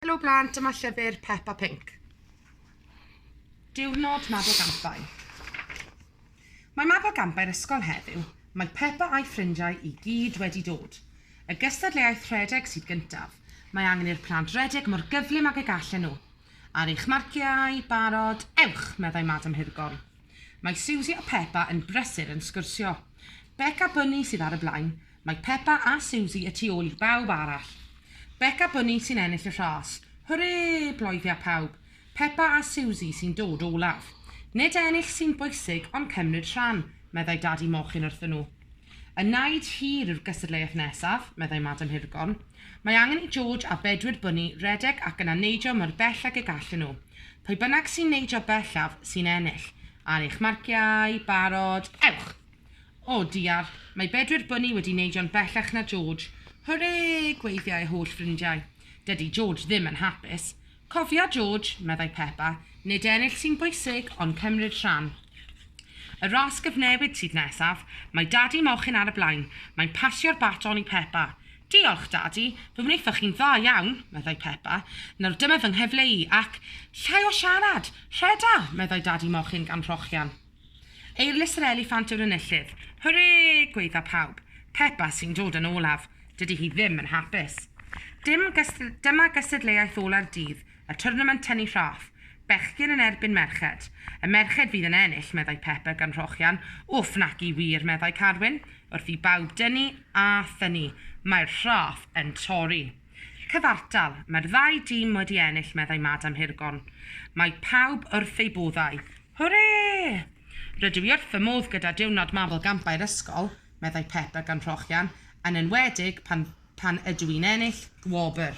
Helo blant, dyma llyfr Pep a Pink. Diwrnod Mab o Gampau. Mae Mab o Gampau'r ysgol heddiw. Mae Peppa a'i ffrindiau i gyd wedi dod. Y gystadleuaeth rhedeg sydd gyntaf. Mae angen i'r plant redeg mor gyflym ag y gallen nhw. Ar eich marciau, barod, ewch, meddai Madam Hirgorn. Mae Siwsi a Peppa yn brysur yn sgwrsio. Bec a Bunny sydd ar y blaen, Mae Peppa a Siwsi y tu ôl i bawb arall. Bec a Bunny sy'n ennill y rhas. Hwrê! bloeddia pawb. Peppa a Siwsi sy'n dod olaf. Nid ennill sy'n bwysig, ond cymryd rhan, meddai Dadi Mochyn wrthyn nhw. Y naid hir yw'r gystadleuaeth nesaf, meddai Madam Hirgorn. Mae angen i George a Bedwyr Bunny redeg ac yna neidio mor bell ag y gallen nhw. Pwy bynnag sy'n neidio bellaf, sy'n ennill. Ar eich marciau, barod, ewch! O, diar, mae Bedwyr Bunny wedi neidio'n bellach na George. Hwrê! gweiddiai'i holl ffrindiau. Dydy George ddim yn hapus. Cofia, George, meddai Peppa, nid ennill sy'n bwysig, ond cymryd rhan. Y ras gyfnewid sydd nesaf, mae Dadi Mochyn ar y blaen. Mae'n pasio'r baton i Peppa. Diolch, Dadi, fe wnaethoch chi'n dda iawn, meddai Peppa. Nawr dyma fy nghyfle i, ac, llai o siarad! Rheda! meddai Dadi Mochyn gan rhochian. Eirlys yr eliffant yw'r enillydd. Hwrê! gwaedda pawb. Peppa sy'n dod yn olaf. Dydy hi ddim yn hapus. Dim Dyma gystadleuaeth ola'r dydd, y twrnament tynnu rhaff. Bechgyn yn erbyn merched. Y merched fydd yn ennill, meddai Peppa gan rhochian. Wff, naci wir, meddai Carwyn. Wrth i bawb dynnu a thynnu, mae'r rhaff yn torri. Cyfartal, mae'r ddau dîm wedi ennill meddai Madam Hirgon. Mae pawb wrth eu boddau. Hwrê! Rydw i wrth fy modd gyda diwrnod Mabel Gampau'r ysgol, meddai Peppa gan Rhochian, yn enwedig pan pan ydw i'n ennill gwobr.